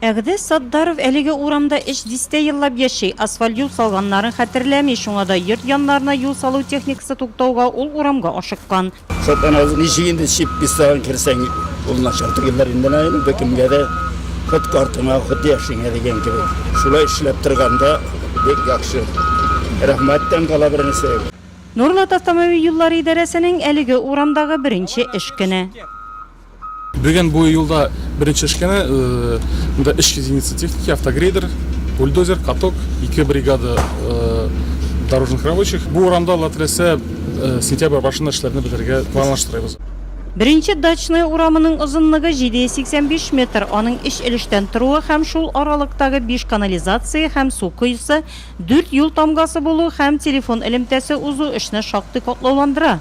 Әгъдәс Сатдаров әлеге урамда өч дистә еллап яши. Асфальт юл салганнарын хәтерләми, шуңа да йорт яннарына юл салу техникасы туктауга, ул урамга ашыккан. Сатаназ, ничек инде чип пистагын керсәң, ул начар түгелдер инде, наверное, беркемгә дә хут картыңа, хут яшеңә дигән кебек. Шулай эшләп торганда бик яхшы. Рәхмәттән кала бернәрсә юк. Нурлат автомобиль юллары идарәсенең әлеге урамдагы беренче эш көне. Бүген бу юлда беренче эшкәне монда 300 единица техники, автогрейдер, бульдозер, каток, ике бригада дорожных рабочих. Бу урамда Алла теләсә сентябрь башында эшләрне бетерергә планлаштырабыз. Беренче Дачная урамының озынлыгы 785 метр, аның өч өлештән торуы һәм шул аралыктагы биш канализация һәм су коесы, дүрт юл тамгасы булу һәм телефон элемтәсе узу эшне шактый катлауландыра.